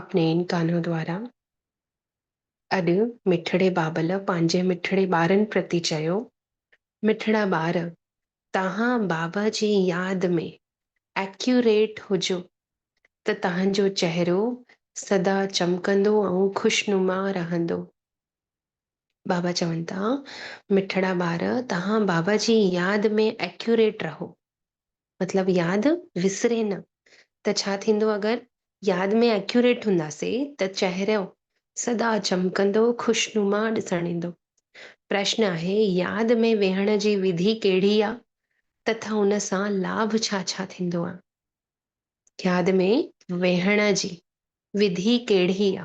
اپني ان ڪانو دوارا اڄ مٺڙي بابل پنهنجي مٺڙي ٻارن پرتي چيو، مٺڙا ٻار توهان بابا جي ياد ۾ Accurate هجو ته توهانجو چهرو سدا چمڪندو ۽ خوشنما رهندو. بابا چون ٿا، مٺڙا ٻار توهان بابا جي ياد ۾ Accurate رهو. مطلب ياد وسري نه ته ڇا ٿيندو اگر ياد ۾ ايڪيوريٽ هونداسي ته چهرو سدا چمڪندو خوشنما ڏسڻ ايندو. پرشن آهي ياد ۾ ويهڻ جي وڌي ڪهڙي آ تٿا ان سان لاڀ ڇا ڇا ٿيندو آ. ياد ۾ ويهڻ جي وڌي ڪهڙي آ.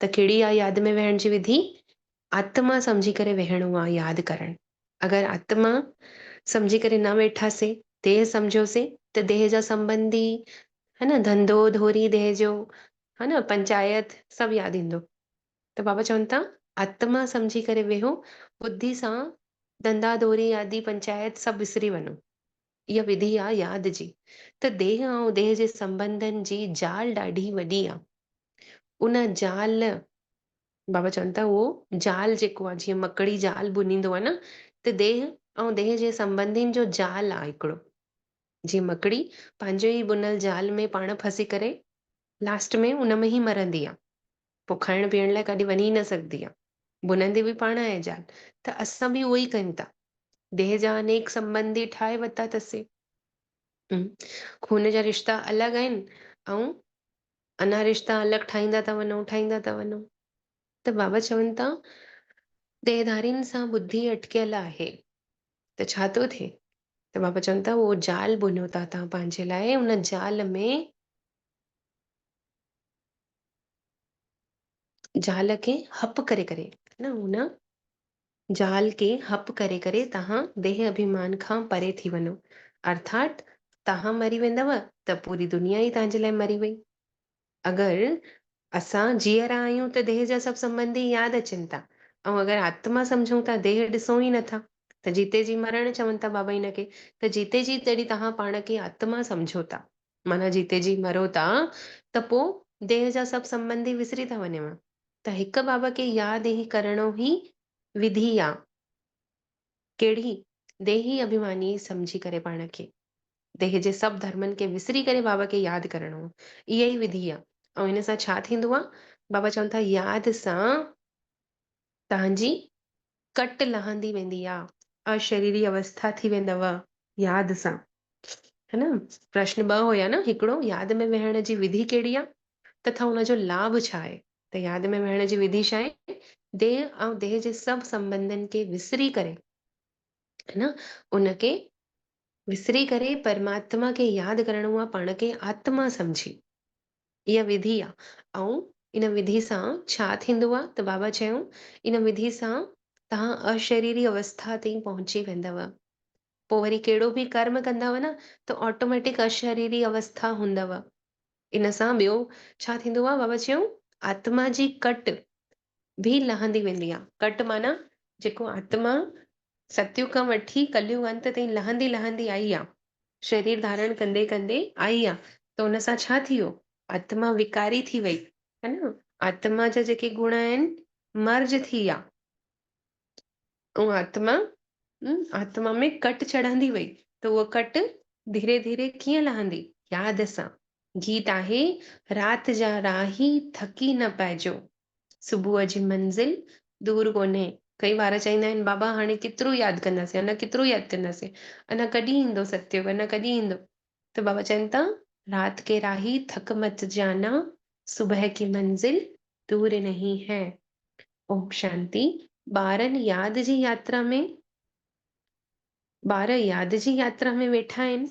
ته ڪهڙي آهي ياد ۾ ويهڻ جي وڌي؟ آتما سمجهي ڪري ويهڻو آهي، ياد ڪرڻ. اگر آتما سمجهي ڪري نه ويٺاسين، ديهه سمجهيوسين ته ديهه جا سنبنڌي، ها نه، ڌنڌو، ڌوري ديهه جو، ها نه، پنچايت، سڀ ياد ايندو. ته بابا چون ٿا، آتما سمجهي ڪري ويهو، ٻڌي سان ڌنڌا ڌوري آدي پنچايت سڀ وسري وڃو. اها وڌي آ ياد جي ته ديهه ۽ ديهه جي سنبنڌن جي جال ڏاڍي وڏي آ. ان جال بابا چون ٿا اهو جال جيڪو آ جيئن مڪڙي جال ڀنيندو آ نه ته ديهه ۽ ديهه جي سنبنڌين جو جال آ هڪڙو جيئن مڪڙي پنهنجي ئي ڀنل جال ۾ پاڻ ڦسي ڪري لاسٽ ۾ ان ۾ ئي مرندي آ. پوء کائڻ پيئڻ لاء ڪاڏي وڃي ئي نه سگهندي آهي. ڀنندي به پاڻ آهي زال، ته اسان به اهو ئي ڪيون ٿا. ديهه جا انيڪ سنٻنڌي ٺاهي ورتا اٿسين. ۽ خون جا رشتا الڳ آهن ۽ انا رشتا الڳ ٺاهيندا ٿا وڃون، ٺاهيندا ٿا وڃون. ته بابا چون ٿا، ديهڌارين سان ٻڌي اٽڪيل آهي، ته ڇا ٿو ٿئي؟ ته بابا چون ٿا، اهو زال ڀنيو ٿا توهان پنهنجي لاء، ان زال ۾. زال کي ھپ ڪري ڪري ھن ھن زال کي ھپ ڪري ڪري توھان ديھ اڀيمان کان پري ٿي وڃو ارٿاٽ توھان مري ويندؤ ته پوري دنيا ئي توھان جي لاء مري وئي اگر اسان جيئرا آھيون ته ديھ جا سڀ سنبنڌي ياد اچن ٿا ۽ اگر آتما سمجھون ٿا ديھ ڏسون ئي نٿا ته جيتي جي مرڻ چون ٿا بابا ھن کي ته جيتي جي جڏھن توھان پاڻ کي آتما سمجھو ٿا معنيٰ جيتي جي مرو ٿا ته پوء ديهه جا سڀ سنبنڌي وسري ٿا وڃون ته هڪ بابا کي ياد ئي ڪرڻو ئي وڌي آ. ڪهڙي ديهي اڀيماني سمجهي ڪري پاڻ کي ديهه جي سڀ ڌرمن کي وسري ڪري بابا کي ياد ڪرڻو ئي اها ئي وڌي آ ۽ ان سان ڇا ٿيندو آ؟ بابا چون ٿا ياد سان تهنجي ڪٽ لهندي ويندي آ. اشريري اوسٿا ٿي ويندؤ ياد سان. ها نه پرشن ٻه هيا نه هڪڙو ياد ۾ ويهڻ جي وڌي ڪهڙي آ تٿا ان جو لاڀ ڇا آهي ته ياد ۾ ويهڻ جي وڌي ڇا آهي ديهه ۽ ديهه جي سڀ سنبنڌن کي وسري ڪري ها نه ان کي وسري ڪري پرماتما کي ياد ڪرڻو آ پاڻ کي آتما سمجهي اها وڌي آ ۽ ان وڌي سان ڇا ٿيندو آ ته بابا چيو ان وڌي سان توهان اشريري اوسٿا تائين پهچي ويندؤ پوء وري ڪهڙو به ڪرم ڪندؤ نه ته آٽوميٽڪ اشريري اوسٿا هوندؤ ان سان ٻيو ڇا ٿيندو آ بابا چيو آتما جي ڪٽ به لهندي ويندي آ ڪٽ معنيٰ جيڪو آتما ستيگ کان وٺي ڪليوگ انت تائين لهندي لهندي آئي آ. شرير ڌارڻ ڪندي ڪندي آئي آ ته ان سان ڇا ٿي ويو؟ آتما وڪاري ٿي وئي. ها نه؟ آتما جا جيڪي گڻ آهن مرج ٿي آ. اها آتما آتما ۾ ڪٽ چڙهندي وئي ته اها ڪٽ ڌيري ڌيري ڪيئن لهندي؟ ياد سان. گيت آهي، رات جا راهي ٿڪي نه پئجو. صبح جي منزل دور ڪونهي. ڪئي ٻار چئيندا آهن بابا هاڻي ڪيترو ياد ڪنداسين اڃا ڪيترو ياد ڪنداسين اڃا ڪڏهن ايندو ستيو اڃا ڪڏهن ايندو ته بابا چين ٿا رات ڪي راهي ٿڪ مت جانا صبح ڪي منزل دور نهين هي اوم شانتي ٻارن ياد جي ياترا ۾ ٻار ياد جي ياترا ۾ ويٺا آهن.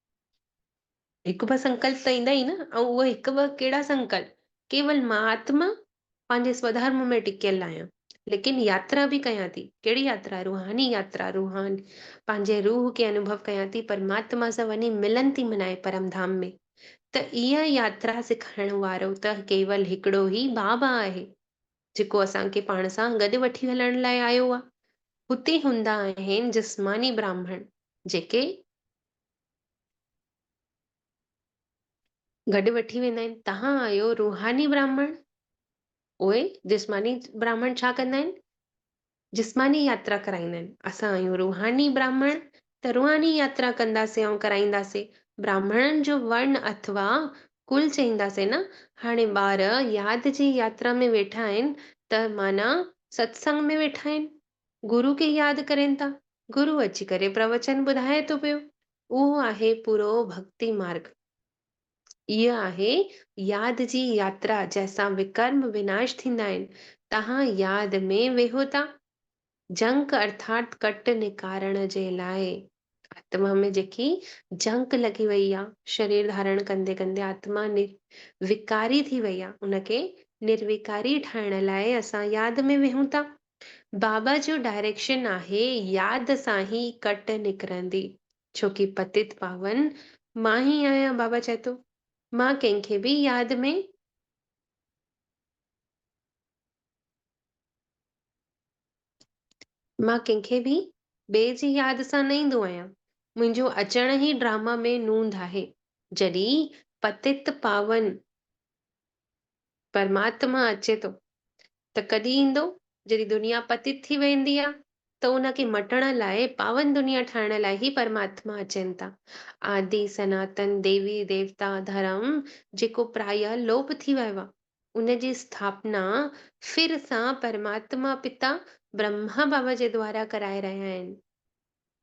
هڪ ٻه سنڪلپ ته ايندا ئي نه، آئون اهي هڪ ٻه ڪهڙا سنڪلپ، ڪيول مان آتما پنهنجي سوڌارم ۾ ٽڪيل آهيان، ليڪن ياترا به ڪيان ٿي، ڪهڙي ياترا، روحاني ياترا، روحان پنهنجي روح کي انوڀو ڪيان ٿي، پرماتما سان وڃي ملن ٿي منائي پرم ڌام ۾، ته اها ياترا سکائڻ وارو ته ڪيول هڪڙو ئي بابا آهي، جيڪو اسان کي پاڻ سان گڏ وٺي هلڻ لاء آيو آهي، هتي هوندا آهن جسماني براهمڻ، جيڪي گڏ وٺي ويندا آهن، تهان آهيو روحاني براهمڻ، اهي جسماني براهمڻ ڇا ڪندا آهن؟ جسماني ياترا ڪرائيندا آهن، اسان آهيون روحاني براهمڻ ته روحاني ياترا ڪنداسين ۽ ڪرائينداسين، براهمڻن جو ورن اٿوا ڪل چئينداسين نه، هاڻي ٻار ياد جي ياترا ۾ ويٺا آهن ته معنيٰ ستسنگ ۾ ويٺا آهن، گرو کي ياد ڪرين ٿا، گرو اچي ڪري پروچن ٻڌائي ٿو پيو، اهو آهي پورو ڀڳتي مارڳ. هيء آهي ياد جي ياترا جنهن سان وڪرم وناش ٿيندا آهن، تهان ياد ۾ ويهو ٿا. جنڪ ارٿات ڪٽ نڪارڻ جي لاء آتما ۾ جيڪي جنڪ لڳي وئي آهي، شرير ڌارڻ ڪندي ڪندي آتما نروڪاري ٿي وئي آهي، ان کي نروڪاري ٺاهڻ لاء اسان ياد ۾ ويهون ٿا. بابا جو ڊائريڪشن آهي ياد سان هي ڪٽ نڪرندي ڇو ڪي پتت پاون مان هي آهيان بابا چئي ٿو مان ڪنهن کي به ياد ۾ مان ڪنهن کي به ٻئي جي ياد سان نه ايندو آهيان منهنجو اچڻ هي ڊراما ۾ نوند آهي جڏي پتت پاون. پرماتما اچي ٿو ته ڪڏهن ايندو؟ جڏهن دنيا پتيت ٿي ويندي آهي ته ان کي مٽڻ لاء، پاون دنيا ٺاهڻ لاء ئي پرماتما اچن ٿا. آدي سناتن ديوي ديوتا ڌرم جيڪو پرايه لوپ ٿي ويو آهي، ان جي اسٿاپنا ڦر سان پرماتما پتا برهما بابا جي دوارا ڪرائي رهيا آهن.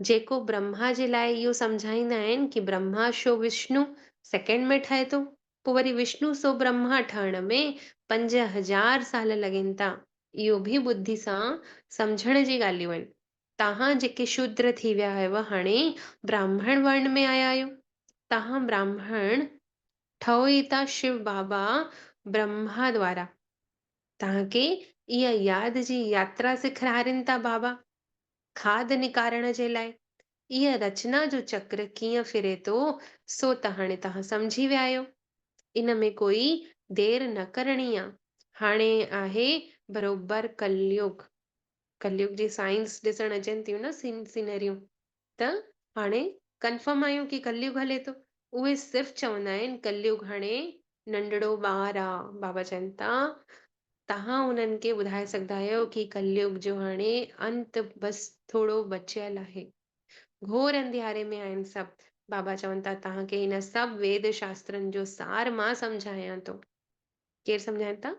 جيڪو برهما جي لاء اهو سمجهائيندا آهن ڪي برهما شو وشنو سيڪنڊ ۾ ٺهي ٿو پو وري وشنو سو برهما ٺهڻ ۾ پنج هزار سال لڳين ٿا اهو به ٻڌي سان سمجهڻ جي ڳالهيون آهن تهان جيڪي شودر ٿي ويا آهيو هاڻي براهمڻ ورڻ ۾ آيا آهيو تهان براهمڻ ٺهو ئي ٿا شو بابا برهما دوارا تهان کي اها ياد جي ياترا سکرارين ٿا بابا. کاڌ نڪارڻ جي لاء ايئن رچنا جو چڪر ڪيئن ڦري ٿو سو ته هاڻي توهان سمجهي ويا آهيو. ان ۾ ڪوئي دير نه ڪرڻي آ. هاڻي آهي بروبر ڪليوگ. ڪليوگ جي سائنس ڏسڻ اچن ٿيون نه سين سينريون ته هاڻي ڪنفرم آهيون ڪي ڪليوگ هلي ٿو. اهي صرف چوندا آهن ڪليوگ هاڻي ننڍڙو ٻار آ. بابا چون ٿا توهان انهن کي ٻڌائي سگهندا آهيو ڪي ڪليگ جو هاڻي انت بس ٿورو بچيل آهي. گهور انڌياري ۾ آهن سڀ. بابا چون ٿا توهان کي هن سڀ ويد شاسترن جو سار مان سمجهايان ٿو. ڪير سمجهائين ٿا؟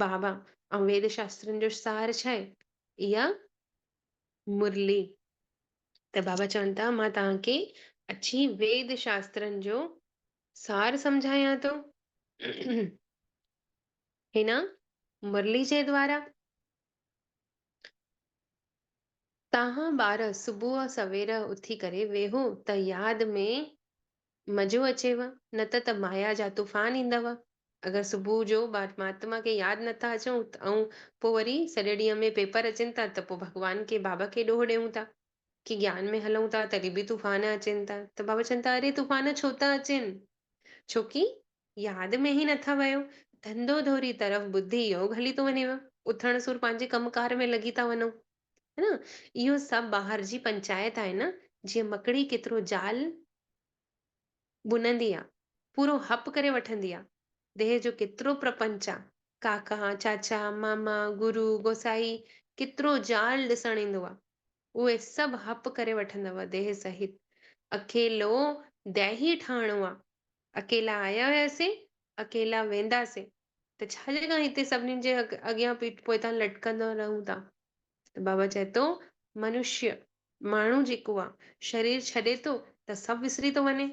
بابا ۽ ويد شاسترن جو سار ڇا آهي؟ اها مرلي. ته بابا چون ٿا مان توهان کي اچي ويد شاسترن جو سار سمجهايان ٿو. هن مرلي جي دوارا تهان ٻار صبح سوير اٿي ڪري ويهو ته ياد ۾ مزو اچيو نه ته ته مايا جا طوفان ايندو. اگر صبح جو ٻار مهاتما کي ياد نه ٿا اچون ته ائون پو وري سڄي ڏينهن ۾ پيپر اچن ٿا ته پو ڀڳوان کي بابا کي ڏوهه ڏيون ٿا ڪي گيان ۾ هلون ٿا تڏهن به طوفان اچين ٿا ته بابا چون ٿا اري طوفان ڇو ٿا اچين ڇوڪي ياد ۾ ئي نه ٿا ويو. ڌنڌو ڌوري طرف ٻڌي يوگ هلي ٿو وڃيو. اٿڻ سور پنهنجي ڪم ڪار ۾ لڳي ٿا وڃو. ها نه؟ اهو سڀ ٻاهر جي پنچائت آهي نه، جيئن مڪڙي ڪيترو جال ٻنندي آ، پورو هپ ڪري وٺندي آ. ديهه جو ڪيترو پرپنچ آ، ڪاڪا، چاچا، ماما، گرو، گوسائي، ڪيترو جال ڏسڻ ايندو آ. اهي سڀ هپ ڪري وٺندؤ ديهه سهت. اڪيلو ديهي ٺاهڻو آ. اڪيلا آيا هياسين، اڪيلا وينداسين ته ڇا جي ڪا هتي سڀنين جي اڳيان پيٺ پوئتان لٽڪندا رهون ٿا؟ ته بابا چئي ٿو، منشيه، ماڻهو جيڪو آ، شرير ڇڏي ٿو ته سڀ وسري ٿو وڃي.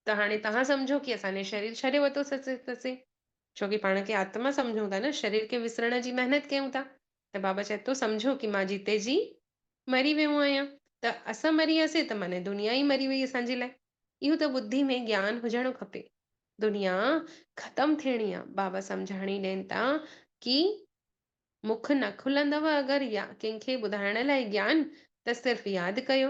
ته هاڻي توهان سمجهو ڪي اسان ني شرير ڇڏي وتو سسي، ڇو ڪي پاڻ کي آتما سمجهون ٿا نه، شرير کي وسرڻ جي محنت ڪيون ٿا، ته بابا چئي ٿو سمجهو ڪي مان جيتي جي مري ويو آهيان ته اسان مري وياسي ته معني دنيا ئي مري وئي اسان جي لاء اهو ته ٻڌي ۾ گيان هجڻو کپي دنيا ختم ٿيڻي آ بابا سمجهاڻي ڏين ٿا ڪي مک نه کلندو اگر يا ڪنهن کي ٻڌائڻ لاء گيان ته صرف ياد ڪيو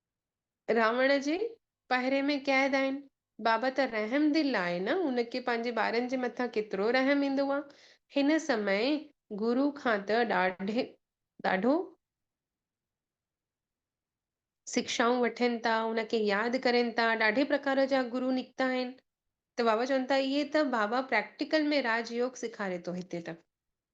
راوڻ جي پهري ۾ قيد آهن. بابا ته رحم دل آهي نه ان کي پنهنجي ٻارن جي مٿان ڪيترو رحم ايندو آ. هن سمي گرو کان ته ڏاڍي ڏاڍو سکشائون وٺين ٿا ان کي ياد ڪرين ٿا ڏاڍي پرڪار جا گرو نڪتا آهن ته بابا چون ٿا اهي ته بابا پريڪٽيڪل ۾ راج يوگ سيکاري ٿو هتي ته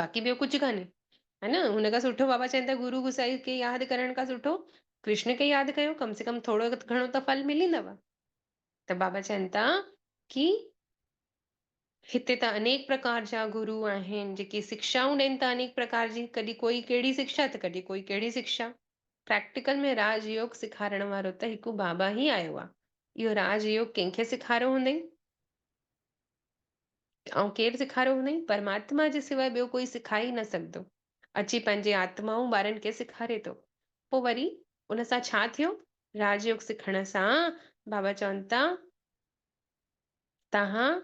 باقي ٻيو ڪجهه ڪانهي. ها نه هن کان سٺو بابا چين ٿا گرو گسائي کي ياد ڪرڻ کان سٺو ڪرشن کي ياد ڪيو ڪم سي ڪم ٿورو گهڻو ته ڦل ملندو. ته بابا چين ٿا ڪي هتي ته انيڪ پرڪار جا گرو آهن جيڪي سکشائون ڏين ٿا انيڪ پرڪار جي ڪڏهن ڪوئي ڪهڙي سکشا ته ڪڏهن ڪوئي ڪهڙي سکشا. پريڪٽيڪل ۾ راج يوگ سکارڻ وارو ته هڪ بابا ئي آيو آهي. اهو راج يوگ ڪنهن کي سکاريو هوندئي؟ آئون ڪير سيکاريو هونئين؟ پرماتما جي سواء ٻيو ڪوئي سيکاري ئي نه سگهندو. اچي پنهنجي آتمائون ٻارن کي سيکاري ٿو. پوء وري ان سان ڇا ٿيو؟ راج يوگ سکڻ سان بابا چون ٿا توهان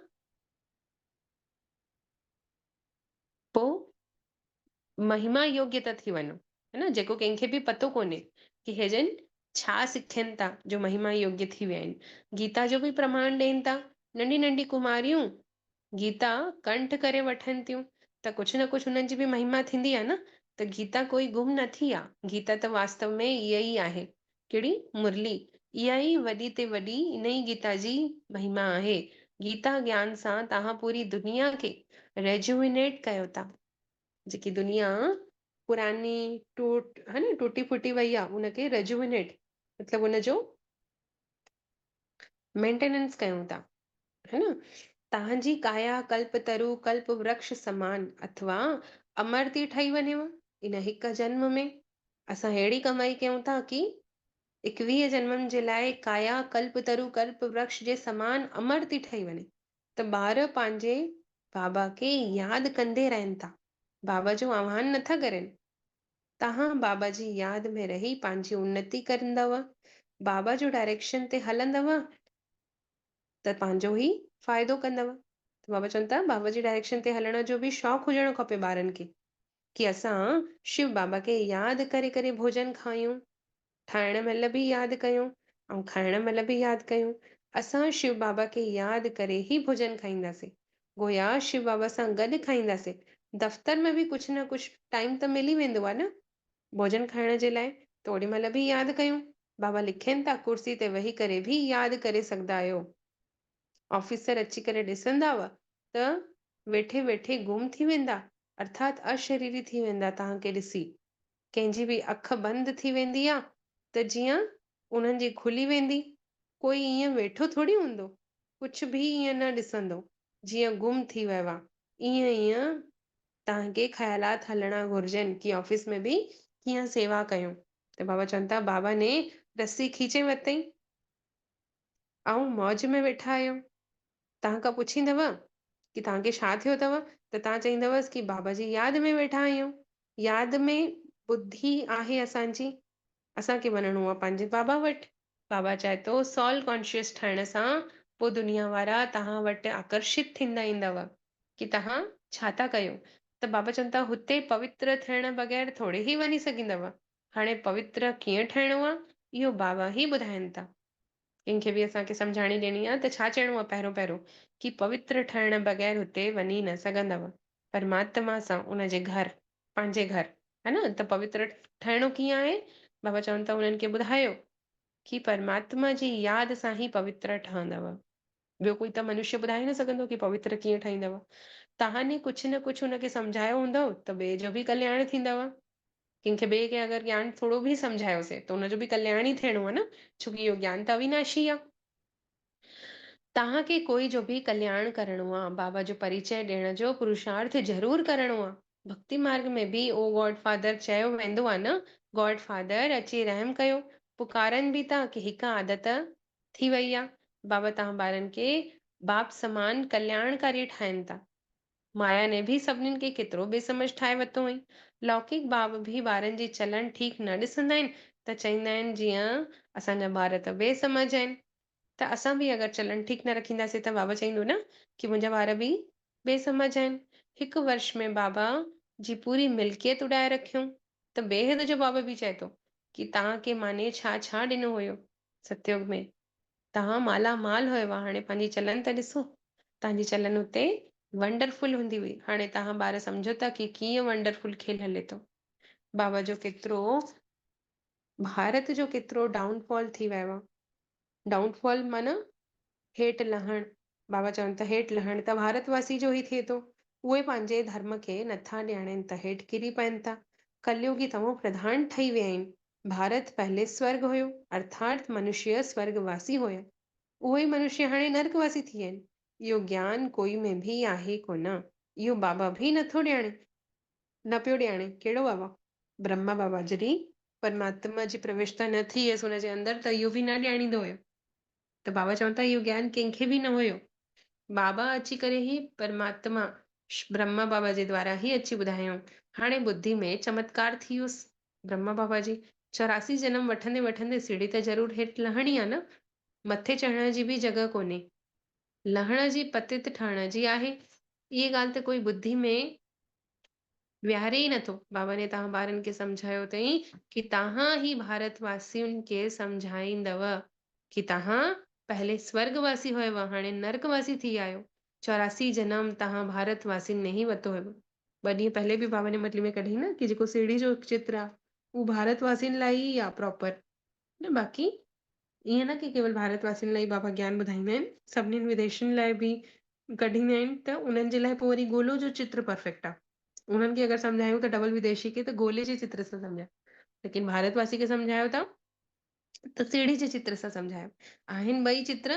پوء مهما يوگيا ته ٿي وڃو هي نه جيڪو ڪنهن کي به پتو ڪونهي ڪي هي جن ڇا سکين ٿا جو مهما يوگيا ٿي ويا آهن گيتا جو به پرماڻ ڏين ٿا ننڍي ننڍي ڪماريون گيتا ڪنٺ ڪري وٺن ٿيون ته ڪجهه نه ڪجهه هنن جي به مهما ٿيندي آهي نه ته گيتا ڪوئي گم نه ٿي آهي گيتا ته واستو ۾ اها ئي آهي ڪهڙي مرلي؟ اها ئي وڏي تي وڏي انهي گيتا جي مهما آهي. گيتا گيان سان توهان پوري دنيا کي Rejuvenate ڪيو ٿا. جيڪي دنيا پراني ٽوٽ ها نه ٽٽي ڦٽي وئي آهي ان کي Rejuvenate مطلب ان جو مينٽيننس ڪيون ٿا ها نه تهان جي ڪايا ڪلپ ترو ڪلپ ورڪش سمان اٿوا امر ٿي ٺهي وڃيو ان هڪ جنم ۾ اسان ههڙي ڪمائي ڪيون ٿا ڪي اڪويهه جنمن جي لاء ڪايا ڪلپ ترو ڪلپ ورڪش جي سمان امر ٿي ٺهي وڃي ته ٻار پنهنجي بابا کي ياد ڪندي رهن ٿا بابا جو آهوان نٿا ڪرين توهان بابا جي ياد ۾ رهي پنهنجي انتي ڪرندؤ، بابا جو ڊائريڪشن تي هلندؤ ته پنهنجو ئي فائدو ڪندؤ ته بابا چون ٿا بابا جي ڊائريڪشن تي هلڻ جو به شوق هجڻو کپي ٻارن کي ڪي اسان شو بابا کي ياد ڪري ڪري ڀوڄن کايون ٺاهڻ مهل به ياد ڪيون ۽ کائڻ مهل به ياد ڪيون. اسان شو بابا کي ياد ڪري ئي ڀوڄن کائينداسين. گويا شو بابا سان گڏ کائينداسين. دفتر ۾ به ڪجهه نه ڪجهه ٽائيم ته ملي ويندو آهي نه. ڀوڄن کائڻ جي لاء ته اوڏي مهل به ياد ڪيون. بابا لکين ٿا ڪرسي تي ويهي ڪري به ياد ڪري سگهندا آهيو. آفيسر اچي ڪري ڏسنداو ته ويٺي ويٺي گم ٿي ويندا ارٿات اشريري ٿي ويندا توهان کي ڏسي. ڪنهن جي به اک بند ٿي ويندي آ ته جيئن انهن جي کلي ويندي، ڪوئي ائين ويٺو ٿوري هوندو، ڪڇ به ائين نه ڏسندو، جيئن گم ٿي ويو آ، ائين ئي توهان کي خيالات هلڻا گهرجن ڪي آفيس ۾ به ڪيئن سيوا ڪيون. ته بابا چون ٿا، بابا ني رسي کيچي ورتئين. آئون موج ۾ ويٺا آهيو. توهان کان پڇيندؤ ڪي توهان کي ڇا ٿيو اٿئو ته توهان چئيندؤس ڪي بابا جي ياد ۾ ويٺا آهيون. ياد ۾ ٻڌي آهي اسان جي. اسان کي وڃڻو آهي پنهنجي بابا وٽ. بابا چاهي ٿو سول ڪانشيس ٺهڻ سان پوء دنيا وارا توهان وٽ آڪرشت ٿيندا ايندؤ ڪي توهان ڇا ٿا ڪيو ته بابا چون ٿا هتي پوتر ٿيڻ بغير ٿوري هي وڃي سگهندؤ. هاڻي پوتر ڪيئن ٺهڻو آ اهو بابا هي ٻڌائين ٿا. ڪنهن کي به اسان کي سمجهاڻي ڏيڻي آ ته ڇا چئڻو آ پهريون پهريون ڪي پوتر ٺهڻ بغير هتي وڃي نه سگهندؤ پرماتما سان ان جي گهر پنهنجي گهر ها نه ته پوتر ٺهڻو ڪيئن آهي بابا چون ٿا انهن کي ٻڌايو ڪي پرماتما جي ياد سان هي پوتر ٺهندؤ. ٻيو ڪوئي ته منشيه ٻڌائي نه سگهندو ڪي پوتر ڪيئن ٺهيندو. توهان ئي ڪجهه نه ڪجهه هن کي سمجهايو هوندو ته ٻئي جو به ڪلياڻ ٿيندو. ڪنهن کي ٻئي کي اگر گيان ٿورو به سمجهايوسين ته ان جو به ڪلياڻ ئي ٿيڻو آهي نه ڇو ڪي اهو گيان ته اويناشي آهي. توهان کي ڪوئي جو به ڪلياڻ ڪرڻو آهي بابا جو پريچئه ڏيڻ جو پروشارٿ ضرور ڪرڻو آهي. ڀڪتي مارگ ۾ به او گاڊ فادر چيو ويندو آهي نه گاڊ فادر اچي رحم ڪيو. پڪارن به ٿا ڪي هڪ عادت ٿي وئي آ. بابا توهان ٻارن کي باب سمان ڪلياڻڪاري ٺاهين ٿا. مايا ني به سڀنين کي ڪيترو بي سمجھ ٺاهي وتو هئين. لوڪيڪ باب به ٻارن جي چلڻ ٺيڪ نه ڏسندا آهن ته چئيندا آهن جيئن اسان جا ٻار ته بي سمجھ آهن ته اسان به اگر چلڻ ٺيڪ نه رکينداسين ته بابا چئيندو نه ڪي منهنجا ٻار به بي سمجھ آهن. هڪ ورش ۾ بابا جي پوري ملڪيت اڏائي رکيون ته بيحد جو بابا به چئي ٿو ڪي توهان کي ماني ڇا ڇا ڏنو هيو. ستيوگ ۾، توهان مالا مال هئو هاڻي پنهنجي چلن ته ڏسو. تهانجي چلن اتي ونڊرفل هوندي هئي هاڻي توهان ٻار سمجهو ٿا ڪي ڪيئن ونڊرفل کيل هلي ٿو. بابا جو ڪيترو ڀارت جو ڪيترو ڊائون فال ٿي ويو آ. ڊائون فال معنيٰ هيٺ لهڻ، بابا چون ته هيٺ لهڻ ته ڀارت واسين جو ئي ٿئي ٿو. اهي پنهنجي ڌرم کي نٿا ڄاڻين ته هيٺ ڪري پئن ٿا. ڪليوگي تمو پرڌان ٺهي ويا آهن. ڀارت پهلي سورڳ هيو، ارٿات منشيه سورڳ واسي هيا. اهي ئي منشيه هاڻي نرڪ واسي ٿي ويا آهن. اهو گيان ڪوئي ۾ به آهي ڪونه. اهو بابا به نٿو ڄاڻي. نه پيو ڄاڻي. ڪهڙو بابا؟ برهما بابا جڏهن پرماتما جي پروشتا نه ٿي هيس ان جي اندر ته اهو به نه ڄاڻيندو هيو. ته بابا چون ٿا اهو گيان ڪنهن کي به نه هيو. بابا اچي ڪري هي پرماتما برهما بابا جي دوارا هي اچي ٻڌايائون. هاڻي ٻڌي ۾ چمتڪار ٿي ويس. برهما بابا جي چوراسي جنم وٺندي وٺندي سيڙهي ته ضرور هيٺ لهڻي آ نه. مٿي چڙهڻ جي به جڳهه ڪونهي. لهڻ جي پتيت ٺهڻ جي آهي. اهي ڳالهه ته ڪوئي ٻڌي ۾ ويهاري ئي نٿو. بابا ني تهان ٻارن کي سمجهايو تئين ڪي تهان هي ڀارت واسين کي سمجهائيندؤ ڪي تهان پهلي سورڳ واسي هيؤ هاڻي نرڪ واسي ٿي آهيو. چوراسي جنم تهان ڀارت واسين نهين وتو هيؤ. ٻه ڏينهن پهلي به بابا ني مٽلي ۾ ڪڍيائين نه ڪي جيڪو سيڙهي جو چتر آ اهو ڀارت واسين لاء ئي آ پراپر نه باقي ائين نه ڪي ڪيول ڀارت واسين لاء ئي بابا گيان ٻڌائيندا آهن سڀني وديسين لاء به ڪڍيندا آهن ته انهن جي لاء پوء وري گولو جو چتر پرفيڪٽ آ. انهن کي اگر سمجهايون ته ڊبل وديسي کي ته گولي جي چتر سان سمجهايو ليڪن ڀارت واسي کي سمجهايو ته ته سيڙهي جي چتر سان سمجهايو آهن ٻئي چتر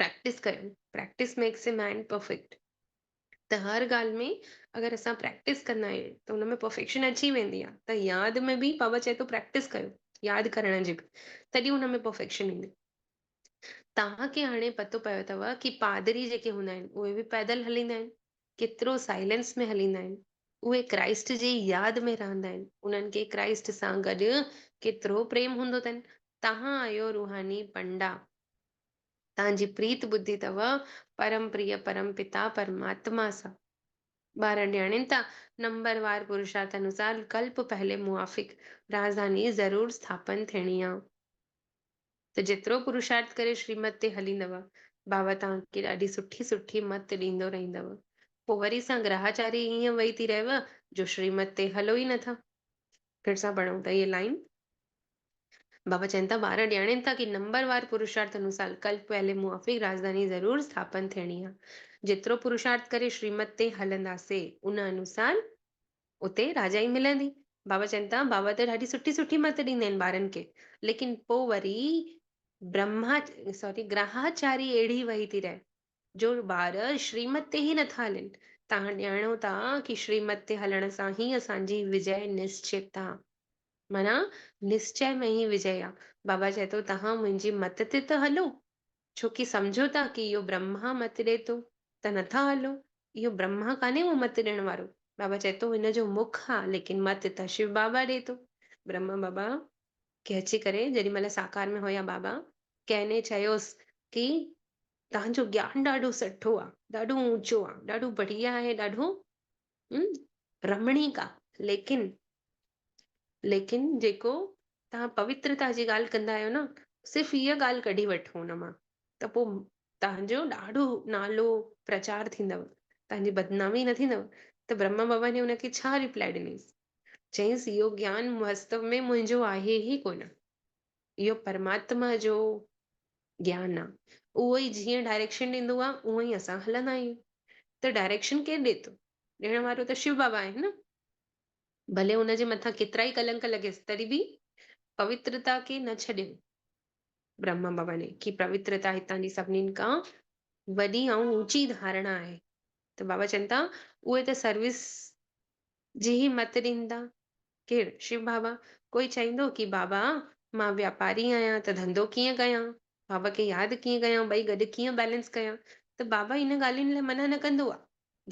پريڪٽس ڪريون practice makes a man perfect ته هر ڳالهه ۾ اگر اسان پريڪٽس ڪندا آهيون ته ان ۾ پرفيڪشن اچي ويندي آهي ته ياد ۾ به بابا چئي ٿو پريڪٽس ڪيو ياد ڪرڻ جي به تڏهن ان ۾ پرفيڪشن ايندي توهان کي هاڻي پتو پيو اٿو ڪي پادري جيڪي هوندا آهن اهي به پيدل هليندا آهن ڪيترو سائلنس ۾ هليندا آهن. اهي ڪرائسٽ جي ياد ۾ رهندا آهن. انهن کي ڪرائسٽ سان گڏ ڪيترو پريم هوندو اٿن. توهان آهيو روحاني پنڊا. توهان جي پريت ٻڌي اٿو پرم پريء پرم پتا پرماتما سان. ٻارن ڏياڻين ته نمبر وار پرشارٿ انوسار ڪلپ پهلي موافق راجڌاني ضرور سٿاپن ٿيڻي آ. ته جيترو پرشارٿ ڪري شريمت تي هليندؤ، بابا توهان کي ڏاڍي سٺي سٺي مت ڏيندو رهيندؤ. پوء وري سان گراهاچاري ايئن وئي ٿي رهيو جو شريمت تي هلو ئي نٿا. ڦر سان پڙهون ته هيء لائين. بابا چين ٿا، ٻار ڄاڻين ٿا ڪي نمبر وار پرشارٿ انوسار ڪلپ ويلي موافق راڄڌاني ضرور اسٿاپن ٿيڻي آ. جيترو پرشارٿ ڪري شريمت تي هلنداسي، ان انوسار اتي راجا ئي ملندي. بابا چين ته بابا ته ڏاڍي سٺي سٺي مت ڏيندا آهن ٻارن کي ليڪن پوء وري برهما سوري گرهاچاري اهڙي وهي ٿي رهي جو ٻار شريمت تي ئي نٿا هلن. تان ڄاڻو ٿا ڪي شريمت تي هلڻ سان هي اسان جي وجئه نشچت آ. معنيٰ نشچئه ۾ ئي وجئه آ. بابا چئي ٿو تهان منهنجي مت تي ته هلو. ڇو ڪي سمجهو ٿا ڪي اهو برهما مت ڏئي ٿو ته نه ٿا هلو، اهو برهما ڪانهي اهو مت ڏيڻ وارو، بابا چئي ٿو هن جو مک آ ليڪن مت ته شو بابا ڏئي ٿو. برهما بابا کي اچي ڪري جيڏي مهل ساڪار ۾ هيا بابا ڪنهن ني چيوس ڪي توهان جو گيان ڏاڍو سٺو آ، ڏاڍو اوچو آ، ڏاڍو بڙيا آهي، ڏاڍو هم رمڻيڪ آ ليڪن ليڪن جيڪو تهان پوترتا جي ڳالهه ڪندا آهيو نه صرف هيء ڳالهه ڪڍي وٺو ان مان ته پوء تهانجو ڏاڍو نالو پرچار ٿيندو تهانجي بدنامي نه ٿيندو ته برهما بابا ني ان کي ڇا ريپلائي ڏنيس چيس اهو گيان واستو ۾ منهنجو آهي ئي ڪونه اهو پرماتما جو گيان آ اهو ئي جيئن ڊائريڪشن ڏيندو آ اونء ئي اسان هلندا آهيون ته ڊائريڪشن ڪير ڏي ٿو ڏيڻ وارو ته شو بابا آهي نه ڀلي ان جي مٿان ڪيترائي ڪلنڪ لڳيس تڏهن به پوترتا کي نه ڇڏيو برهما ڀوني کي پوترتا هتان جي سڀنين کان وڏي ۽ اوچي ڌارڻا آهي ته بابا چون ٿا اهي ته سروس جي هي مت ڏيندا؟ ڪير؟ شو بابا، ڪوئي چئيندو ڪي بابا، مان واپاري آهيان ته ڌنڌو ڪيئن ڪيان؟ بابا کي ياد ڪيئن ڪيان؟ ٻئي گڏ ڪيئن بيلنس ڪيان؟ ته بابا ان ڳالهين لاء منع نه ڪندو آ.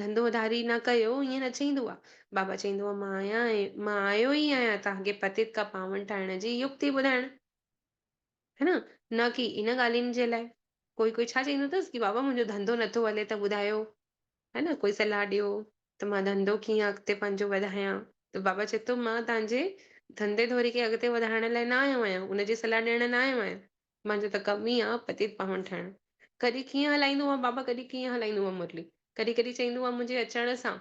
ڌنڌو اڌاري نه ڪيو، ائين نه چئيندو آ. بابا چئيندو آ، مان آيان مان آيو ئي آهيان توهان کي پتيت ڪا پاون ٺاهڻ جي يڪتي ٻڌائڻ. ها نه نه ڪي ان ڳالهين جي لاء ڪوئي ڪوئي ڇا چئيندو اٿس ڪي بابا منهنجو ڌنڌو نٿو هلي ته ٻڌايو ها نه ڪوئي صلاح ڏيو ته مان ڌنڌو ڪيئن اڳتي پنهنجو وڌايان ته بابا چئي ٿو مان تنهنجي ڌنڌي ڌوري کي اڳتي وڌائڻ لاء نه آيو آهيان ان جي صلاح ڏيڻ نه آيو آهيان مانجو ته ڪم ئي آهي پتيت پاهون ٺاهڻ ڪڏهن ڪيئن هلائيندو آهي بابا ڪڏهن ڪيئن هلائيندو آهي مرلي ڪڏهن ڪڏهن چئيندو آهي منهنجي اچڻ سان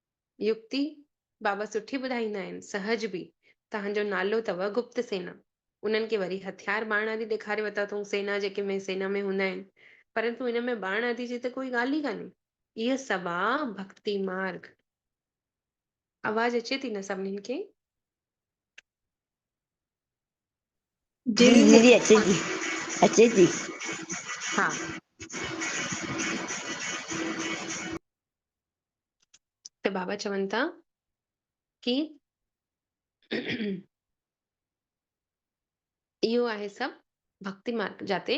يڪتي، بابا سٺي ٻڌائيندا آهن، سهج به، تهان جو نالو اٿو گپت سينا، انهن کي وري هٿيار ٻاڻ آدي ڏيکاري ورتا اٿئون، سينا جيڪي ۾ سينا ۾ هوندا آهن، پرنتو ان ۾ ٻاڻ آدي جي ته ڪوئي ڳالهه ئي ڪانهي. اهي سڀ آ ڀڪتي مارگ. آواز اچي ٿي نه سڀنين کي؟ جي جي جي اچي ٿي اچي ٿي. ها. ته بابا چون ٿا ڪي اهو آهي سڀ ڀڪتي مارگ جاتي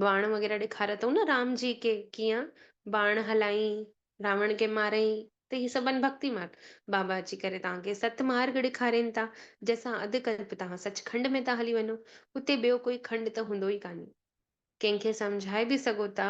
باڻ وغيره ڏيکاريا اٿئون نه رام جي کي ڪيئن باڻ هلائين راوڻ کي مارئين ته هي سڀ آهن ڀڪتي مارگ بابا اچي ڪري توهان کي ست مارگ ڏيکارين ٿا جنهن سان اڌ ڪلپ توهان سچ کنڊ ۾ ٿا هلي وڃو اتي ٻيو ڪوئي کنڊ ته هوندو ئي ڪانهي ڪنهن کي سمجهائي به سگهو ٿا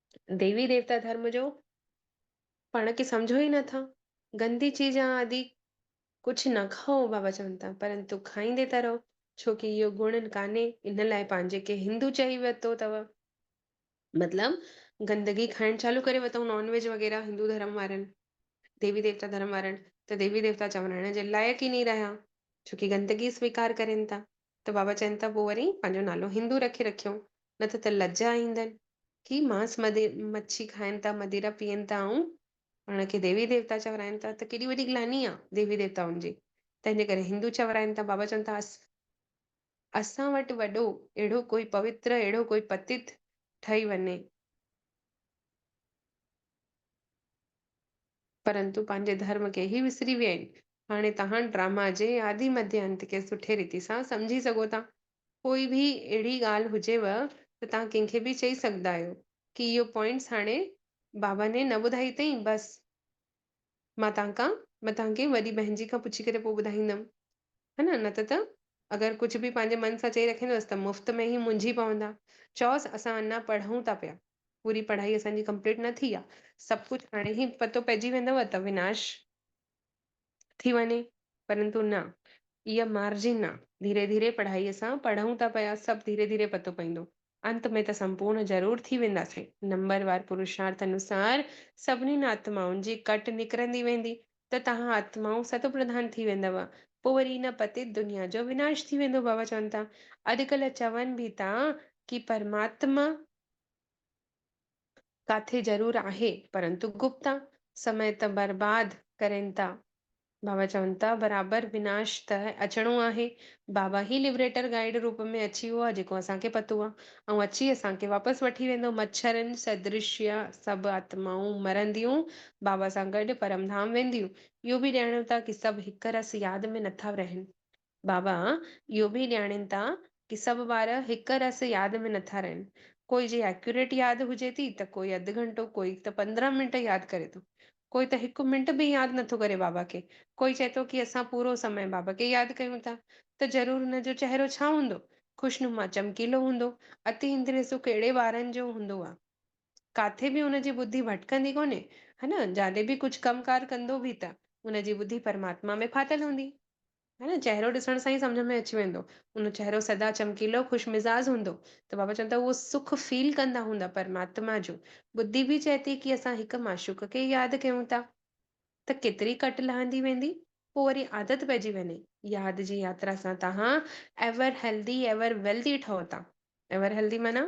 ديوي ديوتا ڌرم جو پاڻ کي سمجهو ئي نٿا گندي چيز آ آدي ڪجهه نه کائو بابا چون ٿا پرنتو کائيندي ته رهو ڇوڪي اهو گڻ ڪانهي ان لاء پنهنجي کي هندو چئي ورتو اٿو مطلب گندگي کائڻ چالو ڪري وتائون نان ويج وغيره هندو ڌرم وارن ديوي ديوتا ڌرم وارن ته ديوي ديوتا چوڻائڻ جي لائق ئي ني رهيا ڇوڪي گندگي سويڪار ڪرين ٿا ته بابا چين ته پوء وري پنهنجو نالو هندو رکي رکيو، نه ته ته لڄ آئيندن. هي مانس مڇي کائين ٿا، مديرا پيئن ٿا ۽ پاڻ کي ديوي ديوتا چورائين ٿا ته ڪيڏي وڏي گلاني آ ديوي ديوتائن جي، تنهنجي ڪري هندو چورائين ٿا. بابا چون ٿا اسان وٽ وڏو اهڙو ڪوئي پوتر، اهڙو ڪوئي پتيت ٺهي وڃي. پرنتو پنهنجي ڌرم کي ئي وسري ويا آهن. هاڻي توهان ڊراما جي آدي مڌي انت کي سٺي ريتي سان سمجهي سگهو ٿا. ڪوئي به اهڙي ڳالهه هجيو ته توهان ڪنهن کي به چئي سگهدا آهيو ڪي اهو پوائنٽس هاڻي بابا ني نه ٻڌائي اٿئين بس مان توهان کان مان توهان کي وڏي بهن جي کان پڇي ڪري پوء ٻڌائيندم ها نه نه ته ته اگر ڪجهه به پنهنجي من سان چئي رکيندوس ته مفت ۾ هي منجهي پوندا چئوس اسان اڃا پڙهون ٿا پيا پوري پڙهائي اسان جي ڪمپليٽ نه ٿي آهي سڀ ڪجهه هاڻي هي پتو پئجي ويندو ته وناش ٿي وڃي پرنتو نه اها مارجن آ ڌيري ڌيري پڙهائي سان پڙهون ٿا پيا سڀ ڌيري ڌيري پتو پوندو. انت ۾ ته سمپورن ضرور ٿي وينداسين نمبر وار پرشارٿ انوسار سڀنين آتمائن جي ڪٽ نڪرندي ويندي ته توهان آتمائون ست پرڌان ٿي ويندؤ پوء وري ان پتيت دنيا جو وناش ٿي ويندو بابا چون ٿا اڄڪلهه چون به ٿا ڪي پرماتما ڪاٿي ضرور آهي پرنتو گپتا سمئي ته برباد ڪرين ٿا. بابا چون ٿا برابر وناش ته اچڻو آهي. بابا هي لبريٽر گائيڊ روپ ۾ اچي ويو آهي جيڪو اسان کي پتو آهي ۽ اچي اسان کي واپس وٺي ويندو. مڇرن سدرش اها سڀ آتمائون مرنديون بابا سان گڏ پرم ڌام وينديون. اهو به ڄاڻيو ٿا ڪي سڀ هڪ رس ياد ۾ نٿا رهن. بابا اهو به ڄاڻين ٿا ڪي سڀ ٻار هڪ رس ياد ۾ نٿا رهن. ڪوئي جي ايڪيوريٽ ياد هجي ٿي ته ڪوئي اڌ گهنٽو ڪوئي ته پندرهن منٽ ياد ڪري ٿو. ڪوئي ته هڪ منٽ به ياد نٿو ڪري بابا کي. ڪوئي چئي ٿو ڪي اسان پورو سمي بابا کي ياد ڪيون ٿا ته ضرور هن جو چهرو ڇا هوندو؟ خوشنما چمڪيلو هوندو. اتي اندري سو ڪهڙي ٻارن جو هوندو آ. ڪاٿي به ان جي ٻڌي ڀٽڪندي ڪونهي هن جڏهن به ڪجهه ڪم ڪار ڪندو به ته ان جي ٻڌي پرماتما ۾ ڦاٿل هوندي. ها ن چهرو ڏسڻ سان ئي سمجهه ۾ اچي ويندو. ان چهرو سدا چمڪيلو خوش مزاز هوندو ته بابا چون ٿا اهو سک فيل ڪندا هوندا پرماتما جو ٻڌي به چئي ٿي ڪي اسان هڪ معشوق کي ياد ڪيون ٿا ته ڪيتري ڪٽ لهندي ويندي پو وري عادت پئجي وڃي ياد جي ياترا سان تهان ايور هيلدي ايور ويلدي ٺهو ٿا ايور هيلدي معنيٰ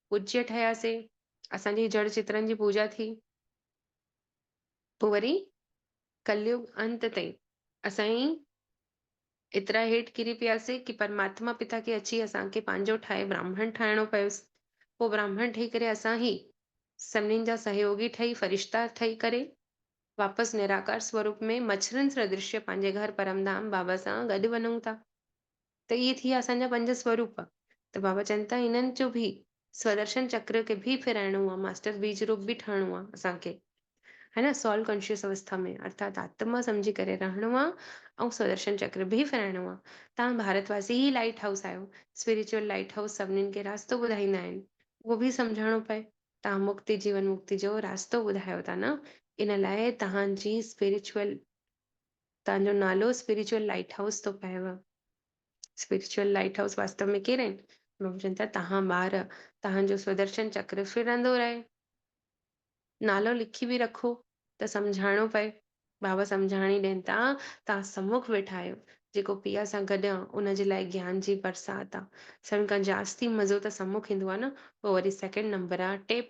پوڄيء ٺهياسي. اسان جي جڙ چترن جي پوڄا ٿي. پوء وري ڪليگ انت تائين اسان ايئن ايترا هيٺ ڪري پياسي ڪي پرماتما پتا کي اچي اسان کي پنهنجو ٺاهي براهمڻ ٺاهڻو پيس. پوء براهمڻ ٺهي ڪري اسان هي سڀنين جا سهيوڳي ٺهي فرشتا ٺهي ڪري واپس نراڪار سوروپ ۾ مڇرن سدرشيه پنهنجي گهر پرم ڌام بابا سان گڏ وڃون ٿا. ته اهي ٿي ويا اسان جا پنج سوروپ. ته بابا چون ٿا انهن جو به سودرشن چڪر کي به ڦيرائڻو آهي، ماسٽر بيج روپ به ٺهڻو آهي اسان کي. ها نه Soul Conscious اوسٿا ۾ ارٿات آتما سمجهي ڪري رهڻو آهي ۽ سودرشن چڪر به ڦيرائڻو آهي. تهان ڀارت واسي ئي لائيٽ هائوس آهيو. Spiritual Light House سڀني کي راستو ٻڌائيندا آهن. اهو به سمجهڻو پئي. تهان مڪتي جيون مڪتي جو راستو ٻڌايو ٿا نه ان لاء تهان جي Spiritual تان جو نالو اسپريچوئل لائيٽ هائوس ٿو پئيو. اسپريچوئل لائيٽ هائوس واستو ۾ ڪير آهن؟ پرڀو چون ٿا تهان ٻار، تهان جو سودرشن چڪر ڦرندو رهي. نالو لکي به رکو ته سمجهائڻو پئي. بابا سمجهاڻي ڏين ٿا، تهان سمک ويٺا آهيو، جيڪو پيء سان گڏ آ، ان جي لاء گيان جي برسات آ. سڀن کان جاستي مزو ته سمک ايندو آ نه، پوء وري سيڪنڊ نمبر آ ٽيپ،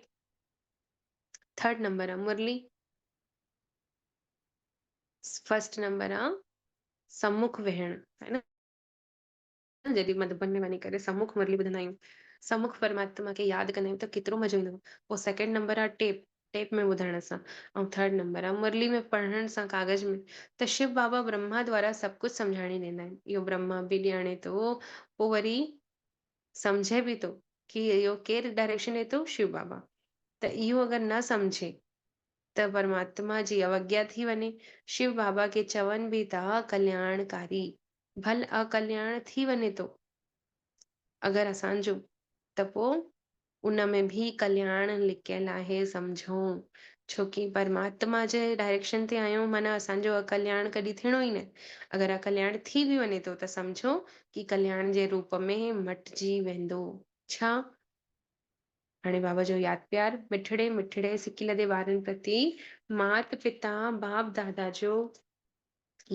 ٿرڊ نمبر آ مرلي. فرسٽ نمبر آ سمک ويهڻ هي نه جڏهن مڌبن ۾ وڃي ڪري سمک مرلي ٻڌندا آهيون سمک پرماتما کي ياد ڪندا آهيون ته ڪيترو مزو ايندو پوء سيڪنڊ نمبر آ ٽيپ ٽيپ ۾ ٻڌڻ سان ۽ ٿرڊ نمبر آ مرلي ۾ پڙهڻ سان ڪاغذ ۾ ته شو بابا برهما دوارا سڀ ڪجهه سمجهاڻي ڏيندا آهن اهو برهما به ڄاڻي ٿو پوء وري سمجهي به ٿو ڪي اهو ڪير ڊائريڪشن ڏي ٿو شو بابا ته اهو اگر نه سمجهي ته پرماتما جي اوگيا ٿي وڃي. شو بابا کي چون به ته ڪلياڻ ڪاري ڀل اڪلياڻ ٿي وڃي ٿو اگر اسان جو ته پوء ان ۾ به ڪلياڻ لڪيل آهي سمجهون ڇو ڪي پرماتما جي ڊائريڪشن تي آهيون معنيٰ اسان جو اڪلياڻ ڪڏي ٿيڻو ئي نه اگر اڪلياڻ ٿي به وڃي ٿو ته سمجهو ڪي ڪلياڻ جي روپ ۾ مٽجي ويندو ڇا هاڻي بابا جو ياد پيار، مٺڙي مٺڙي سڪي لڌي وارن پرتي، مات پتا باپ دادا جو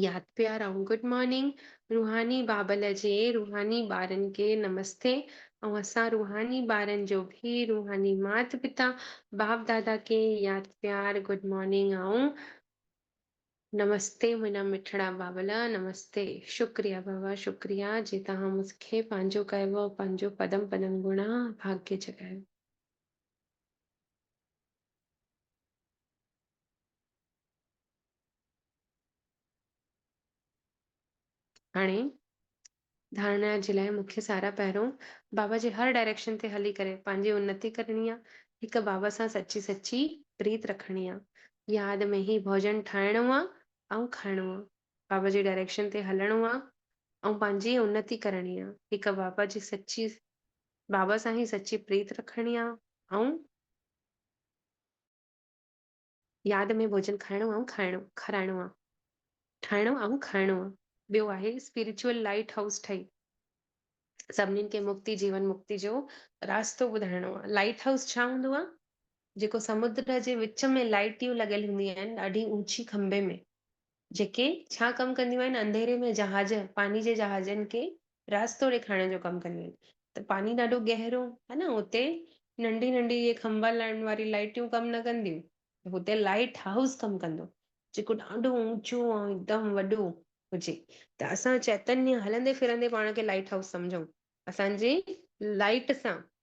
ياد پيار ۽ گڊ مارننگ، روحاني بابل جي روحاني ٻارن کي نمستي ۽ اسان روحاني ٻارن جو به روحاني مات پتا باپ دادا کي ياد پيار، گڊ مارننگ ۽. نمستي منهنجا مٺڙا بابلا نمستي شڪريا بابا شڪريا جي توهان مون کي پنهنجو ڪيو ۽ پنهنجو پدم پدم گڻا ڀاگيه جڳايو. هاڻي ڌارڻا جي لاء مونکي سارا پهرئون بابا جي هر ڊائريڪشن تي هلي ڪري پنهنجي انتي ڪرڻي آ هڪ بابا سان سچي سچي پريت رکڻي آ ياد ۾ هي ڀوڄن ٺاهڻو آ ۽ کائڻو آ بابا جي ڊائريڪشن تي هلڻو آ ۽ پنهنجي انتي ڪرڻي آ هڪ بابا جي سچي بابا سان هي سچي پريت رکڻي آ ۽ ياد ۾ ڀوڄن کائڻو آئون کائڻو، کارائڻو آ. ٺاهڻو آئون کائڻو آ. ٻيو آهي اسپريچوئل لائيٽ هائوس ٺهي سڀنين کي مڪتي جيون مڪتي جو راستو ٻڌائڻو آ. لائيٽ هائوس ڇا هوندو آ؟ جيڪو سمنڊ جي وچ ۾ لائيٽيون لڳل هونديون آهن ڏاڍي اوچي کنڀي ۾ جيڪي ڇا ڪم ڪنديون آهن انڌيري ۾ جهاز پاني جي جهازن کي راستو ڏيکارڻ جو ڪم ڪنديون آهن ته پاني ڏاڍو گهرو ها نه اتي ننڍي ننڍي اهي کنڀا لائڻ واري لائٽيون ڪم نه ڪنديون ته اتي لائٽ هائوس ڪم ڪندو جيڪو ڏاڍو اوچو ۽ هڪدم وڏو هجي ته اسان چيتنيا هلندي ڦرندي پاڻ کي لائٽ هائوس سمجهون اسان جي لائٽ سان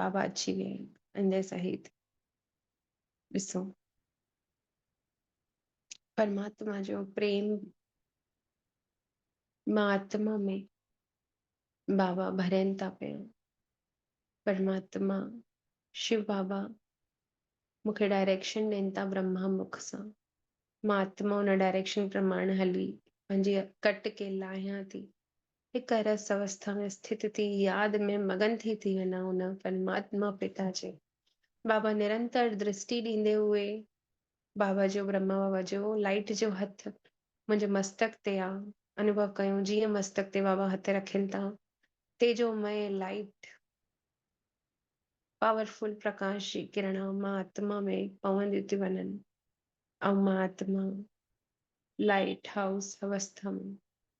بابا اچي ويا آهن انجي سهيد ڏسو پرماتما جو پريم مان آتما ۾ بابا ڀرين ٿا پيا پرماتما شو بابا مونکي ڊائريڪشن ڏين ٿا برهما مک سان مان آتما ان ڊائريڪشن پرماڻ هلي پنهنجي ڪٽ کي لاهيان ٿي هڪ رس اوسٿا ۾ اسٿت ٿي ياد ۾ مگن ٿي ٿي وڃان ان پرماتما پتا جي. بابا نرنتر درسٽي ڏيندي هئي. بابا جو برهما بابا جو لائيٽ جو هٿ منهنجي مستڪ تي آ. انوڀو ڪيو جيئن مستڪ تي بابا هٿ رکين ٿا. تيجومئي لائيٽ پاور فل پرڪاش جي ڪرڻا مان آتما ۾ پونديون ٿيون وڃن. آئون مان آتما لائيٽ هائوس اوسٿا ۾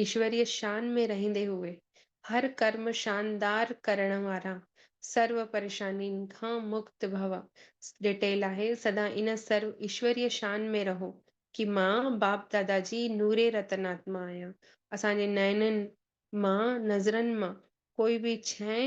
ايشوريه شان ۾ رهندي هوئي هر ڪرم شاندار ڪرڻ وارا سرو پريشانين کان مڪت ڀو ڏٽيل آهي سدا ان سرو ايشوريه شان ۾ رهو ڪي مان باپ دادا جي نوري رتن آتما آهيان اسان جي نئنن مان نظرن مان ڪوئي به شئي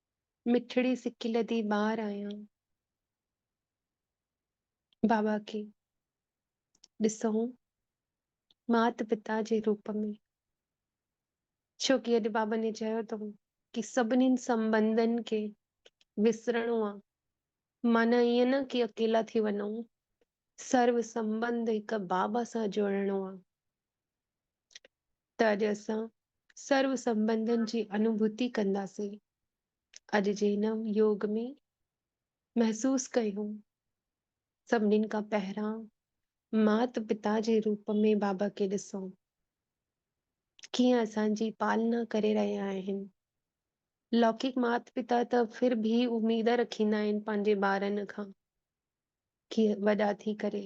مٺڙي سڪي لڌي ٻاهر آيان. بابا کي ڏسئون مات پتا جي روپ ۾. ڇو ڪي اڄ بابن هي چيو اٿئون ڪي سڀنين سنبنڌن کي وسرڻو آ. معنيٰ ائين نه ڪي اڪيلا ٿي وڃئون. سرو سنبنڌ هڪ بابا سان جوڙڻو آ. ته اڄ اسان سرو سنبنڌن جي انوڀوتي ڪنداسين. اڄ جي هن يوگ ۾ محسوس ڪيو. سڀنين کان پهران مات پتا جي روپ ۾ بابا کي ڏسون. ڪيئن اسان جي پالنا ڪري رهيا آهن. لوڪڪ مات پتا ته ڦر ڀي اميد رکيندا آهن پنهنجي ٻارن کان ڪي وڏا ٿي ڪري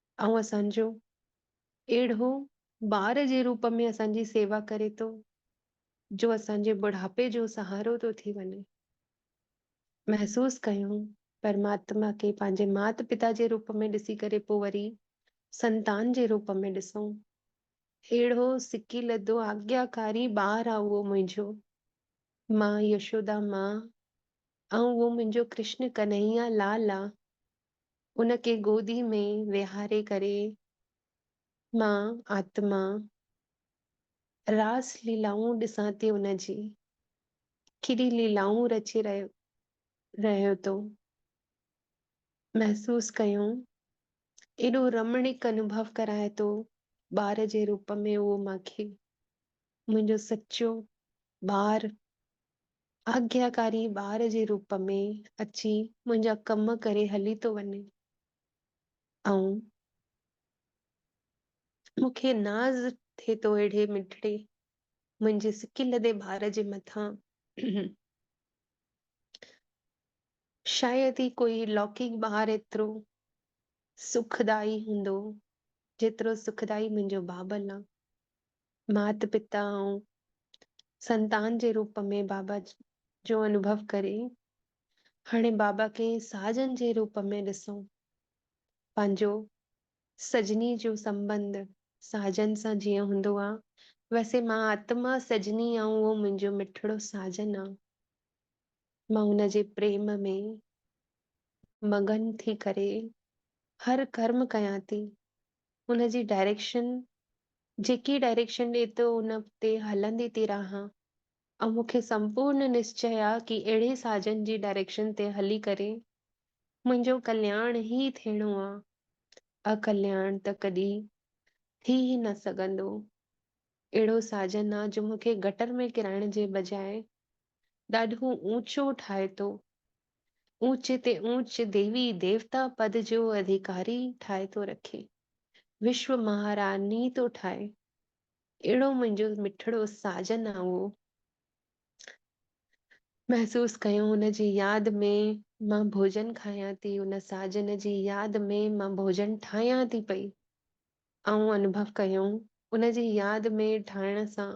اهو اسان جو اهڙو ٻار جي روپ ۾ اسان جي سيوا ڪري ٿو جو اسان جي ٻڍاپي جو سهارو ٿو ٿي وڃي. محسوس ڪيون پرماتما کي پنهنجي مات پتا جي روپ ۾ ڏسي ڪري پوء وري سنتان جي روپ ۾ ڏسون. اهڙو سڪي لڌو آگياڪاري ٻار آ اهو منهنجو مان يشودا مان ۽ اهو منهنجو ڪرشن ڪنهيا لال آ ان کي گودي ۾ ويهاري ڪري مان آتما راس ليلائون ڏسان ٿي ان جي ڪيڏي ليلائون رچي رهيو رهيو ٿو محسوس ڪيون ايڏو رمڻيڪ انوڀو ڪرائي ٿو ٻار جي روپ ۾ اهو مان کي منهنجو سچو ٻار آجياڪاري ٻار جي روپ ۾ اچي منهنجا ڪم ڪري هلي ٿو وڃي ۽ مون کي ناز ٿئي ٿو اهڙي مٺڙي منهنجي سڪي لڌي ٻار جي مٿان. شايد ئي ڪوئي لوڪيڪ ٻار ايترو سکدائي هوندو، جيترو سکدائي منهنجو بابل آ. مات پتا ۽ سنتان جي روپ ۾ بابا جو انوڀو ڪري هاڻي بابا کي ساجن جي روپ ۾ ڏسو. پنهنجو سجني جو سنبنڌ ساجن سان جيئن هوندو آ، ويسي مان آتما سجني ۽ اهو منهنجو مٺڙو ساجن آ. مان ان جي پريم ۾ مگن ٿي ڪري هر ڪرم ڪيان ٿي. ان جي ڊائريڪشن جيڪي ڊائريڪشن ڏي ٿو ان تي هلندي ٿي رهان ۽ مون کي سمپورن نشچي آ ڪي اهڙي ساجن جي ڊائريڪشن تي هلي ڪري منهنجو ڪلياڻ هي ٿيڻو آ ۽ ڪلياڻ ته ڪڏي ٿي هي نه سگهندو اهڙو ساجن آ جو مون کي گٽر ۾ ڪرائڻ جي بجاء ڏاڍو اوچو ٺاهي ٿو. اوچ تي اوچ ديوي ديوتا پد جو اڌيڪاري ٺاهي ٿو رکي. وشو مهاراڻي ٿو ٺاهي. اهڙو منهنجو مٺڙو ساجن آ اهو محسوس ڪيو ان جي ياد ۾ مان ڀوڄن کايان ٿي ان ساجن جي ياد ۾ مان ڀوڄن ٺاهيان ٿي پئي آئون انڀو ڪيو ان جي ياد ۾ ٺاهڻ سان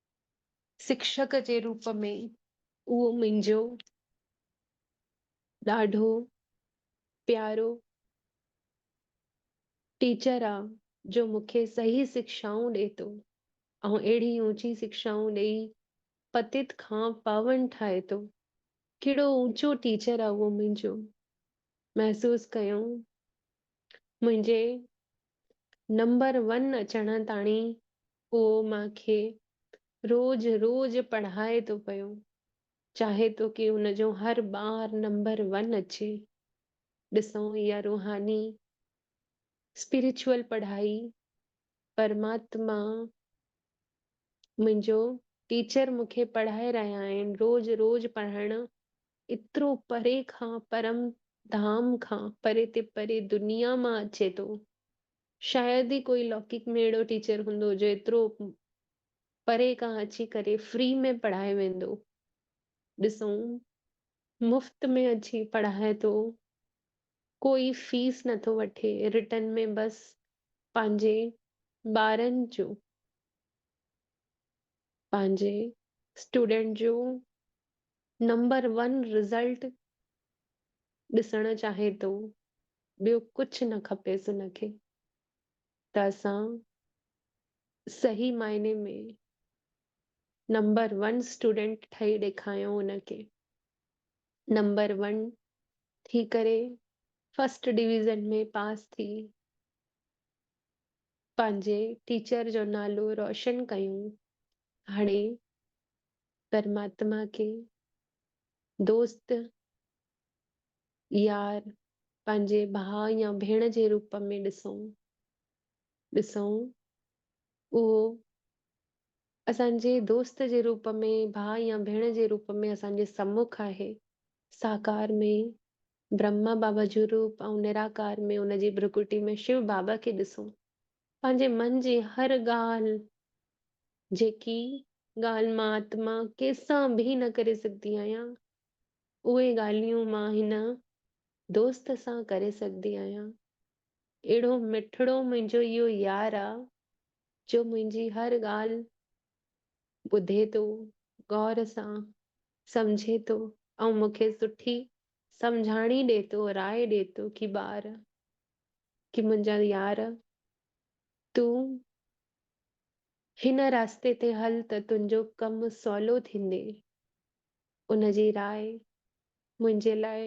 شڪشڪ جي روپ ۾ اهو منهنجو ڏاڍو پيارو ٽيچر آ جو مون کي صحيح شڪشائون ڏي ٿو ۽ اهڙي اوچي شڪشائون ڏئي پتيت کان پاون ٺاهي ٿو. ڪهڙو اوچو ٽيچر آ اهو منهنجو! محسوس ڪيو منهنجي نمبر ون اچڻ تاڻي پوء مان کي روز روز پڙهائي ٿو پيو، چاهي ٿو ڪي ان جو هر ٻار نمبر ون اچي. ڏسون اها روحاني، Spiritual، پڙهائي، پرماتما منهنجو ٽيچر مون کي پڙهائي رهيا آهن، روز روز پڙهڻ ايترو پري کان پرم ڌام کان پري تي پري دنيا مان اچي ٿو، شايد ئي ڪوئي لوڪڪ ۾ اهڙو ٽيچر هوندو جو ايترو پري کان اچي ڪري فري ۾ پڙهائي ويندو. ڏسون مفت ۾ اچي پڙهائي ٿو، ڪوئي فيس نه ٿو وٺي، رٽن ۾ بس پنهنجي ٻارن جو، پنهنجي اسٽوڊنٽ جو نمبر ون رزلٽ ڏسڻ چاهي ٿو ٻيو ڪجهه نه کپيس ان کي ته اسان صحيح معنيٰ ۾ نمبر ون اسٽوڊنٽ ٺهي ڏيکايون ان کي نمبر ون ٿي ڪري فرسٽ ڊويزن ۾ پاس ٿي پنهنجي ٽيچر جو نالو روشن ڪيون هاڻي پرماتما کي دوست، يار، پنهنجي ڀاء يا ڀيڻ جي روپ ۾ ڏسون ڏسون اهو اسان جي دوست جي روپ ۾ ڀاء يا ڀيڻ جي روپ ۾ اسان جي سمک آهي. ساڪار ۾ برهما بابا جو روپ ۽ نراڪار ۾ ان جي ڀرڪٽي ۾ شو بابا کي ڏسون پنهنجي من جي هر ڳالهه، جيڪي ڳالهه مان آتما ڪيسان به نه ڪري سگهندي آهيان، اهي ڳالهيون مان هن دوست سان ڪري سگهندي آهيان. اهڙو مٺڙو منهنجو اهو يار آ، جو منهنجي هر ڳالهه ٻڌي ٿو، غور سان سمجهي ٿو ۽ مون کي سٺي سمجهاڻي ڏي ٿو، راء ڏي ٿو ڪي ٻار ڪي منهنجا يار تون هن رستي تي هل ته تنهنجو ڪم سولو ٿيندي. ان جي راء منهنجي لاء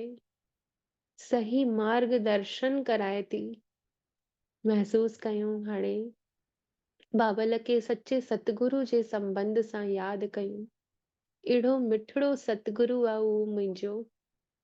صحي مارگ درشن ڪرائي ٿي. محسوس ڪيون هاڻي بابل کي سچي ستگرو جي سنبنڌ سان ياد ڪيون. اهڙو مٺڙو ستگرو آ اهو منهنجو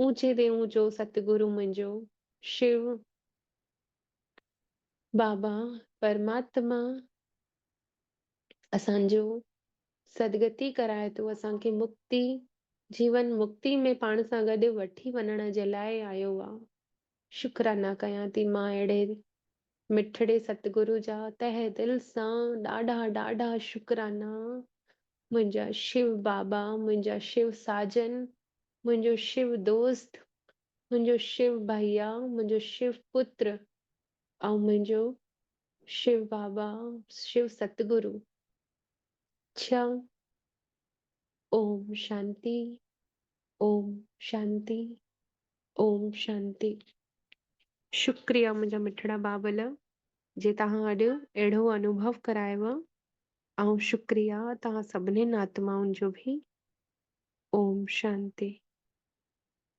اونچي تي اونچو ست گرو منهنجو شو بابا پرماتما اسان جو سدگتي ڪرائي ٿو اسان کي مڪتي جيون مڪتي ۾ پاڻ سان گڏ وٺي وڃڻ جي لاء آيو آ شڪرانا ڪيان ٿي مان اهڙي مٺڙي ستگرو جا تهه دل سان ڏاڍا ڏاڍا شڪرانا منهنجا شو بابا منهنجا شو ساجن منهنجو شو دوست منهنجو شو ڀئيا منهنجو شو پتر ۽ منهنجو شو بابا شو ستگرو ڇهه اوم شانتي اوم شانتي اوم شانتي. شڪريه منهنجا مٺڙا بابل جي توهان اڄ اهڙو انوڀو ڪرايو ۽ شڪريه توهان سڀنين آتمائن جو به اوم شانتي.